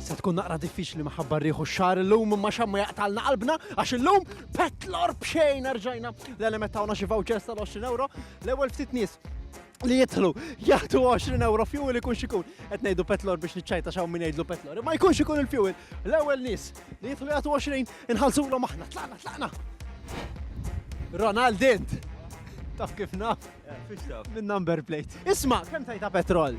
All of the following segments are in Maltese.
Se tkun naqra diffiċli maħabba rieħu xar illum ma xammu jaqtalna qalbna għax illum petlor bxejn erġajna l-element tawna xi vouchers tal-20 euro l-ewwel ftit nies li jidħlu jagħtu 20 euro fuel ikun xikun. Qed ngħidu petlor biex niċċajta xaw min jgħidlu petlor. Imma jkun xikun il-fuel. L-ewwel nies li jidħlu jagħtu 20 inħallsulhom aħna. Tlaqna, tlaqna. Ronaldin. Taf kif naf? Minn number plate. Isma, kemm tajta petrol?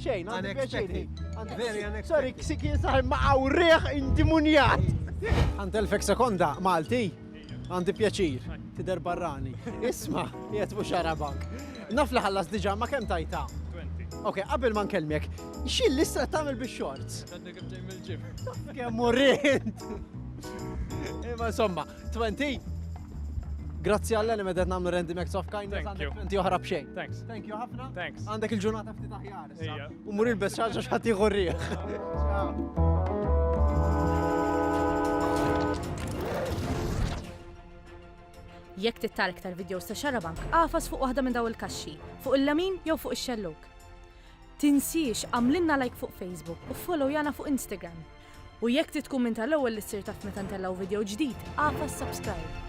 Xejn, għandi pjaċiri. Very unexpected. Sorry, ksik jinsaħ ma għawriħ indimunjat. Għand elfek sekonda, Malti, għandi pjaċir, tider barrani. Isma, jiet mux arabak. Naf li ħallas diġa, ma kem tajta? 20. Ok, qabel ma nkelmek, xil l-istra tamil bi xorts? Għadni kif ġej mill-ġim. Kemm urrint! Imma insomma, 20. Grazzi għalla li medet namlu random acts of kindness. Thank you. Inti oħra bxejn. Thanks. Thank you ħafna. Thanks. Għandek il-ġurnata ftit aħjar. Ija. U mur il-bes xaġa xħati għurriħ. Jekk tittar iktar videos ta' xarabank, għafas fuq waħda minn daw il-kaxxi, fuq il-lamin jew fuq ix-xelluk. Tinsiex għamlilna like fuq Facebook u followjana fuq Instagram. U jekk trid tkun minn tal-ewwel li ssir taf meta ntellgħu video ġdid, agħfas subscribe.